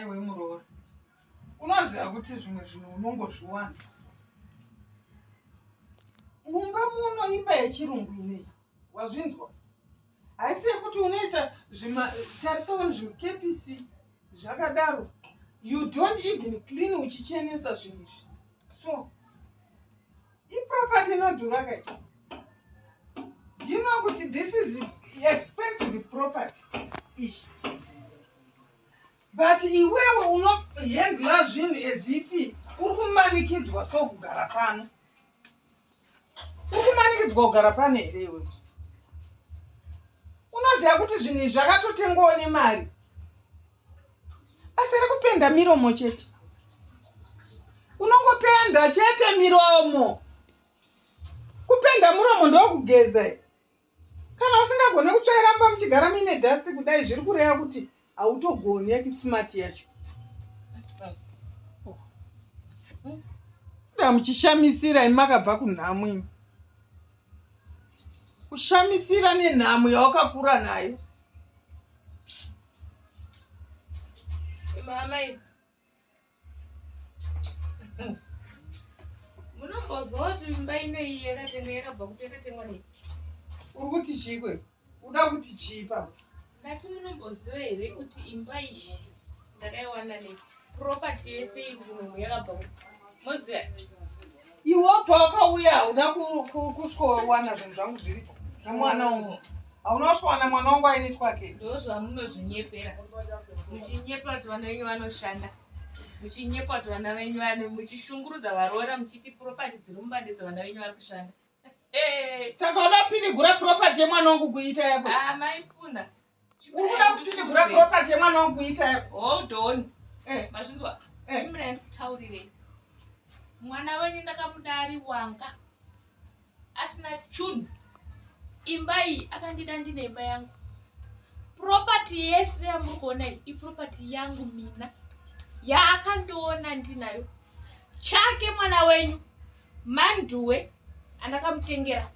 iwe muroora unoziva kuti zvimwe zvinhu unongozviwana mumba muno imba yechirungu inei wazvinzwa haisi yekuti unoisa zvimatarisawani zvimukepisi zvakadaro you don't even clean uchichenesa zvinhu izvi so iproperty inodhura kai do you know kuti this is expensive property ishi but iwewe unohendla zvinhu ezifi uri kumanikidzwa so kugara pano uri kumanikidzwa kugara pano here iwe unoziva kuti zvinhu izvi zvakatotengwawo nemari asi ri kupenda miromo chete unongopenda chete miromo kupenda muromo ndokugeza kana usingagone kutsvaira mba muchigara muine dust kudai zviri kureva kuti hautogoni yakitsimati yacho muchishamisira imi makabva kunhamo imi kushamisira nenhamo yawakakura nayo mama munomboziva kuti mimba inei yakatenga yakabva kuti yakatengwa nei uri kuti chikwe uda kuti chii papa ndati munomboziva here kuti imba iyi ndakaiwana nei property yese iri kunomu yakabva kuti moziva Iwo pawakauya hauna kusvikowana zvinhu zvangu zviripo zvemwana wangu. Hauna kusvikowana mwana wangu aine twake. Ndozvamunozvinyepera. Muchinyepa kuti vana venyu vanoshanda. Muchinyepa kuti vana venyu vane muchishungurudza varoora muchiti property dziri mumbande dzevana venyu vari kushanda. Eh. Saka unopinigura property yemwana wangu kuita yako. Ah, maipuna. Uri kuda kuti tichigura property yemwana wangu kuita yako. Hold on. Eh. Mazvinzwa. Eh. Chimira ndikutaurire. Mwana wenyu ndakamuda ari wanga. Asina chunhu. Imba iyi akandida ndine imba yangu. Property yese yamuri kuona iyi iproperty yangu mina. Yaakandiona ndinayo. Chake mwana wenyu. Manduwe andakamutengera.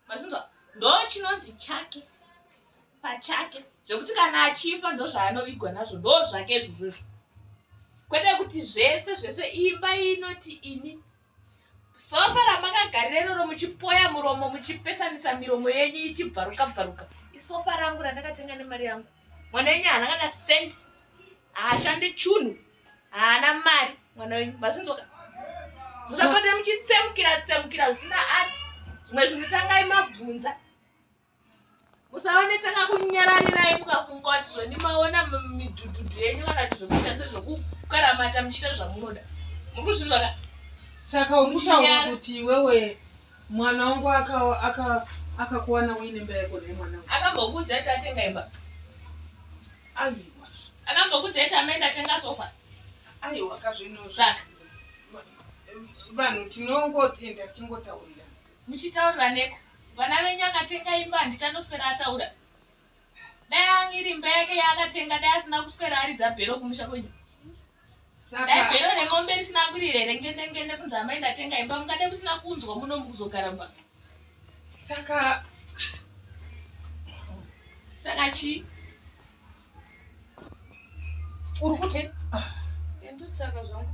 mazvinzwa ndo chinonzi chake pachake zvekuti kana achifa ndo zvaanovigwa nazvo ndo zvake izvozvozvo kwete kuti zvese zvese imba inoti ini sofa ramakagarira iroro muchipoya muromo muchipesanisa miromo yenyu ichibvaruka bvaruka isofa rangu randakatenga nemari yangu mwana yenyu haana kana senti haashande chunhu haana mari mwana wenyu mazvinzoka musapota muchitsemukira tsemukira zvisina ati zvimwe zvinhu tangai mabvunza musaonetanga kunyararirai mukafunga kuti zvoni maona midhudhudhu yenyu kana kuti zvokuita sezvokukaramata muchiita zvamunoda muri kuzvinzvaka saka ukutaura kuti iwewe mwana wangu akakuwana uine mbayeko nemwana akambokuudza kuti atenga imba aiwa akambokuti heti amaenda tenga sofa aiwa kazvino saka vanhu tinongoenda tichingotaurira muchitaurira neko vana venyu akatenga imba handiti anoswera ataura dai iri imba yake yaakatenga dai asina kuswera aridza bhero kumusha kwenyu dai bhero remombe risina kurira here ngende ngende kunzi amai ndatenga imba mungade musina kunzwa muno mukuzogara mba saka saka chii uri kute ah. ndotsvaka zvangu